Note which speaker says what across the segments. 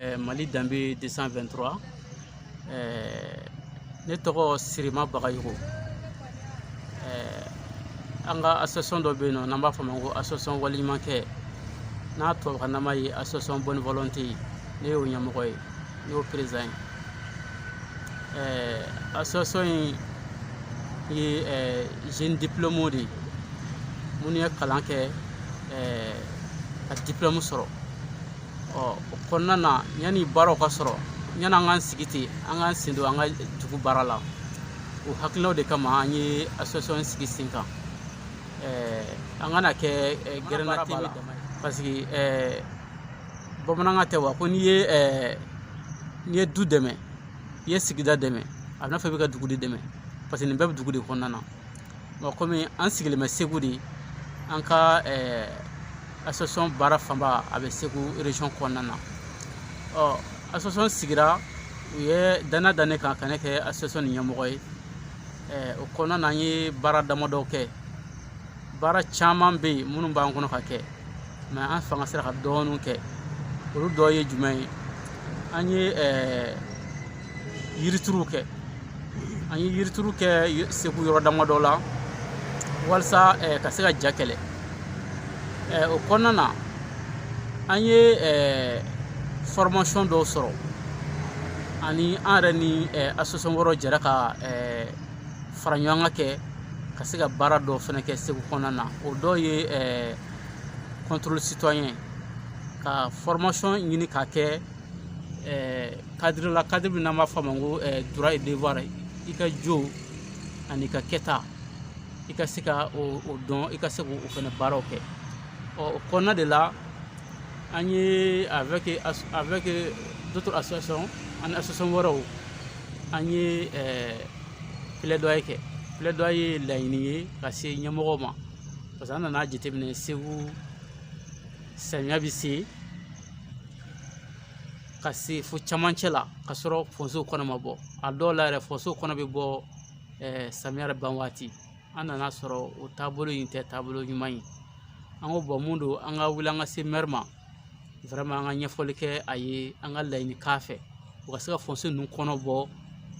Speaker 1: eh, mali danbe 223 eh, ne tɔgɔ sirima bagayogo eh, an ka association dɔ bɛ yen nɔ n'an b'a fɔ a ma ko association waleɲumankɛ n'a tubabukannama ye association bonne volonté ye ne y'o ɲɛmɔgɔ ye ne y'o président ye association in ye eh, jeune diplôméw de ye minnu ye kalan kɛ eh, ka diplôme sɔrɔ ɔ o kɔnɔna na yanni baaraw ka sɔrɔ yanni an k'an sigi ten an k'an sen don an ka dugu baara la o hakilinaw de kama an ye association sigi sen kan an kana kɛ gɛrɛn na te la parce que bamanankan tɛ wa ko n'i ye n'i ye du dɛmɛ i ye sigida dɛmɛ a bɛ n'a fɔ i bɛ ka dugu de dɛmɛ parce que nin bɛɛ bɛ dugu de kɔnɔna na Bon kɔmi an sigilen bɛ segu de an ka eh, association baara fanba a bɛ segu région kɔnɔna na ɔ association sigira u ye danna da ne kan ka ne kɛ association nin ɲɛmɔgɔ ye eh, o kɔnɔna na an ye baara damadɔ kɛ baara caman bɛ yen minnu b'an kɔnɔ ka kɛ mɛ an fanga sera ka dɔɔninw kɛ olu dɔ ye jumɛn ye an ye eh, yirituruw kɛ an ye yirituru kɛ segu yɔrɔ damadɔ la walasa eh, ka se ka ja kɛlɛ eh, o kɔnɔna na an ye eh, formation dɔw sɔrɔ ani an yɛrɛ ni eh, association wɛrɛw jɛra ka eh, fara ɲɔgɔn kan kɛ ka se ka baara dɔw fɛnɛ kɛ segu kɔnɔna na o dɔw ye eh, contrôle citoyen ka formation ɲini k'a kɛ eh, cadre la cadre min n'an b'a fɔ a ma ko eh, droit et devoir i ka jo ani ka kɛta i ka se ka o o dɔn i ka se k'o fɛnɛ baaraw kɛ ɔ o kɔnɔna de la an ye avec avec d'autres associations ani association wɛrɛw an ye eh, plaidoyer kɛ plaidoyer ye laɲini ye ka se ɲɛmɔgɔw ma parce que an nana jateminɛ segu samiya bɛ se ka se fo camancɛ la ka sɔrɔ fonsew kɔnɔ ma bɔ a dɔw la yɛrɛ fonsew kɔnɔ bɛ bɔ eh, samiya yɛrɛ ban waati an nana sɔrɔ o taabolo in tɛ taabolo ɲuman ye an ko bɔn mun don an ka wuli an ka se mɛri ma vraiment an ka ɲɛfɔli kɛ a ye an ka laɲini k'a fɛ u ka se ka fonse ninnu kɔnɔ bɔ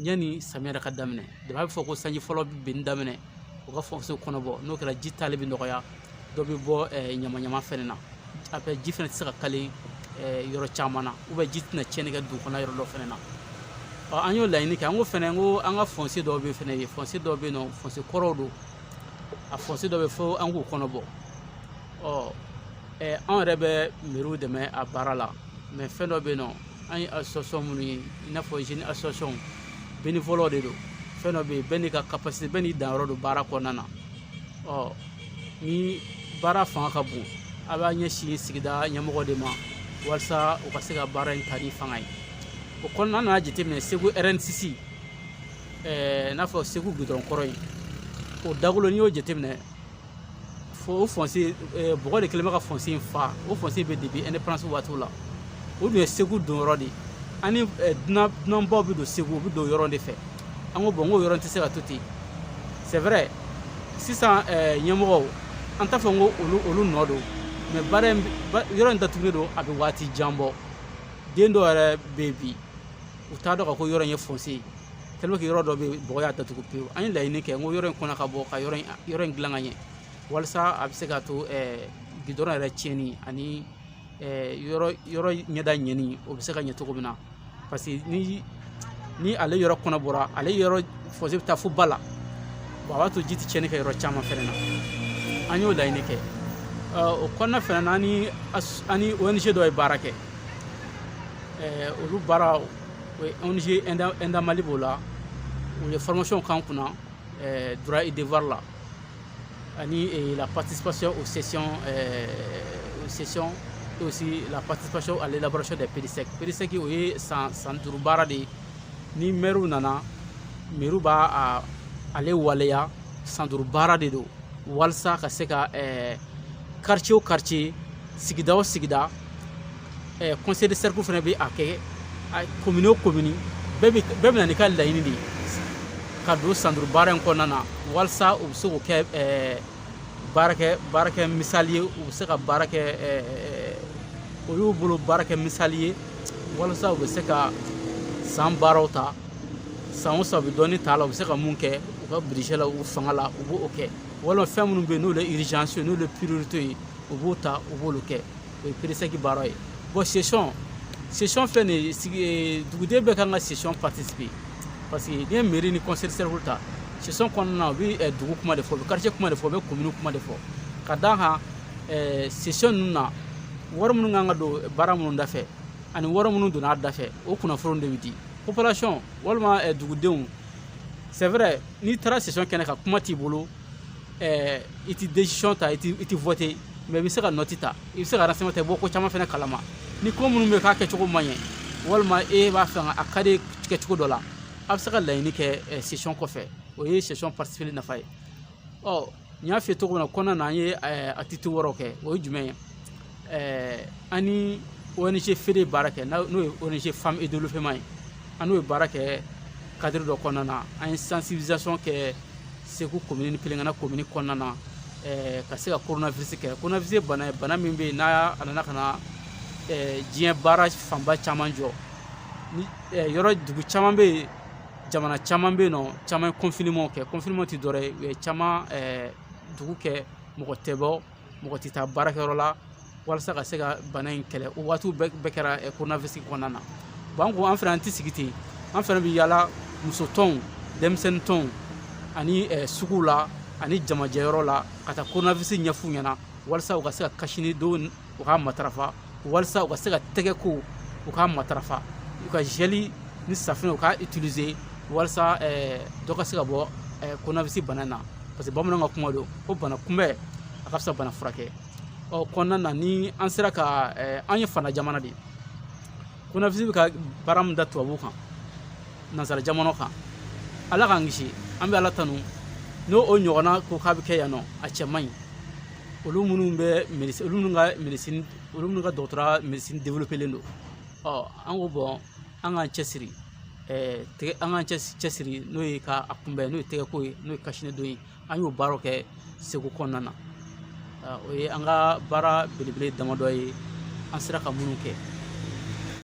Speaker 1: yanni samiya yɛrɛ ka daminɛ de b'a bɛ fɔ ko sanji fɔlɔ bɛ binni daminɛ u ka fɔnse kɔnɔ bɔ n'o kɛra ji tali bɛ nɔgɔya dɔ bɛ bɔ ɲamaɲama fɛnɛ na après ji fɛnɛ tɛ se ka kale yɔrɔ caman na ji tɛna tiɲɛni kɛ dugu kɔnɔ yɔrɔ dɔ fɛnɛ na an y'o laɲini kɛ an ko fɛnɛ ko an ka fɔnse dɔw bɛ fɛnɛ ye fɔnse dɔw bɛ yen nɔ fɔnse kɔrɔw don a fɔnse dɔ bɛ fo an k'u kɔnɔ bɔ ɔ anw yɛrɛ bɛ mɛri dɛmɛ a baara la mɛ fɛn dɔ bɛ yen nɔ an ye association minnu ye i n'a fɔ jeune association bénévole de don fɛn dɔ bɛ yen bɛɛ n'i ka capacité bɛɛ n'i danyɔrɔ don baara kɔnɔna na ɔ ni baara fanga ka bon a b'a ɲɛsin sigida ɲɛmɔgɔ de ma walasa u ka se ka baara in ta ni fanga ye o kɔnɔna an nana jateminɛ segu RN6 ɛɛ n'a fɔ segu gudɔrɔn kɔrɔ in o dagolo n'i y'o jateminɛ fo o fɔnse bɔgɔ de kɛlen bɛ ka fɔnse in fa o fɔnse bɛ depuis indépendance waatiw la o dun ye segu donyɔrɔ de ye ani dunan dunanbaw bɛ don segu u bɛ don yɔrɔ de fɛ an ko bɔn n ko yɔrɔ tɛ se ka to ten c'est vrai sisan ɲɛmɔgɔw an t'a fɔ n ko olu olu nɔ don mɛ baara in yɔrɔ in datugulen don a bɛ waati jan bɔ den dɔw yɛrɛ bɛ yen bi u t'a dɔn ka ko yɔrɔ in ye fɔnse ye tellement que yɔrɔ dɔ bɛ yen bɔgɔ y'a datugu pewu an ye laɲini kɛ n ko yɔrɔ in kɔnɔ ka bɔ ka yɔrɔ in yɔrɔ in dilan ka ɲɛ walasa a bɛ se ka to gidɔrɔn yɛrɛ tiɲɛni ani yɔrɔ yɔrɔ ɲɛda ɲɛni o bɛ se ka ɲɛ cogo min na parce que ni ni ale yɔrɔ kɔnɔ bɔra ale yɔrɔ fɔnse bɛ taa fo ba la bɔn a b'a to ji tɛ tiɲɛni kɛ yɔrɔ caman fɛnɛ na an y'o laɲini kɛ o kɔnɔna fɛnɛ na an ni an ni ONG dɔ ye baara kɛ olu baara O ye ONG Enda Mali b'o la u ye formation k'an kunna eh, droit et devoir la ani eh, la participation aux sessions eh, aux sessions et aussi la participation à l'élaboration des PDSEC. PDSEC o ye san san duuru baara de ye ni mɛriw nana mɛriw b'a ale waleya san duuru baara de don walasa ka se ka quartier o quartier sigida o sigida Eh, conseil de cercle fɛnɛ bɛ a kɛ commune o commune bɛɛ bɛ bɛɛ bɛ na n'i ka laɲini de ye ka don san duuru baara in kɔnɔna na walasa u bɛ se k'o kɛ eh, baarakɛ baarakɛ misali ye u bɛ se ka baara kɛ eh, o y'u bolo baarakɛ misali ye walasa u bɛ se ka san baaraw ta san o san u bɛ dɔɔni ta a la u bɛ se ka mun kɛ u ka budget la u fanga la u b'o kɛ walima fɛn minnu bɛ yen n'olu ye urgence ye n'olu ye priorité ye u b'o ta u b'olu kɛ. o ye PRESEC baara ye bon session session filɛ nin ye duguden bɛɛ kan ka session participer parce que n'i ye mairie ni conseil cercle ta session kɔnɔna na u bɛ eh, dugu kuma de fɔ u bɛ quartier kuma de fɔ u bɛ commune kuma de fɔ ka d'a kan eh, session ninnu na wari minnu kan ka don baara minnu da fɛ ani wari minnu donna a da fɛ o kunnafoniw de bɛ di population walima eh, dugudenw c'est vrai n'i taara session kɛnɛ kan kuma t'i bolo ɛɛ i ti décision ta i ti i ti voter mais i bɛ se ka note ta i bɛ se ka renseignement ta i bɔ ko caman fana kalama ni ko minnu bɛ k'a kɛcogo man ɲɛ walima e b'a fɛ ka a ka di kɛcogo dɔ la a bɛ se ka laɲini kɛ session kɔfɛ o ye session participeli nafa ye ɔ n y'a f'i ye cogo min na kɔnɔna na an ye activité wɛrɛw kɛ o ye jumɛn ye ɛɛ an ni ONG FEDE ye baara kɛ n'o ye ONG femme et développement ye an n'o ye baara kɛ cadre dɔ kɔnɔna na an ye sensibilisation kɛ Segu commune Pelengana commune kɔnɔna na ɛɛ ka se ka coronavirus kɛlɛ coronavirus ye bana ye bana min bɛ yen n'a a nana ka na ɛɛ diɲɛ baara fanba caman jɔ ni ɛɛ yɔrɔ dugu caman bɛ yen jamana caman bɛ yen n'o caman ye confinement kɛ confinement tɛ dɔwɛrɛ ye u ye caman ɛɛ dugu kɛ mɔgɔ tɛ bɔ mɔgɔ tɛ taa baarakɛyɔrɔ la walasa ka se ka bana in kɛlɛ o waatiw bɛɛ kɛra coronavirus kɔnɔna na bon an ko an fana an tɛ sigi ten an fana bɛ yaala muso tɔnw denmisɛnnin tɔnw ani suguw la ani jamajɛyɔrɔ la ka taa coronavirus ɲɛf'u ɲɛna walasa u ka se ka kasini don u k'a matarafa walasa u ka se ka tɛgɛ ko u k'a matarafa u ka gel ni safinɛ u k'a utiliser walasa eh, dɔ ka se ka bɔ eh, coronavirus bana na parce que bamananw ka kuma don ko bana kunbɛn a ka fisa bana furakɛ ɔ kɔnɔna na ni an sera ka eh, an ye fana jamana de ye coronavirus bɛ ka baara min da tubabuw kan nansara jamana kan ala k'an kisi an bɛ ala tanu n'o o ɲɔgɔnna ko k'a bɛ kɛ yan nɔ a cɛ man ɲi olu minnu bɛ médecine olu minnu ka médecine olu minnu ka dɔgɔtɔrɔya médecine développélen don ɔ an ko bon an k'an cɛsiri ɛɛ tɛgɛ an k'an cɛsiri n'o ye ka a kunbɛn n'o ye tɛgɛko ye n'o ye kasinɛdon ye an y'o baaraw kɛ Segu kɔnɔna na o ye an ka baara belebele damadɔ ye an sera ka minnu kɛ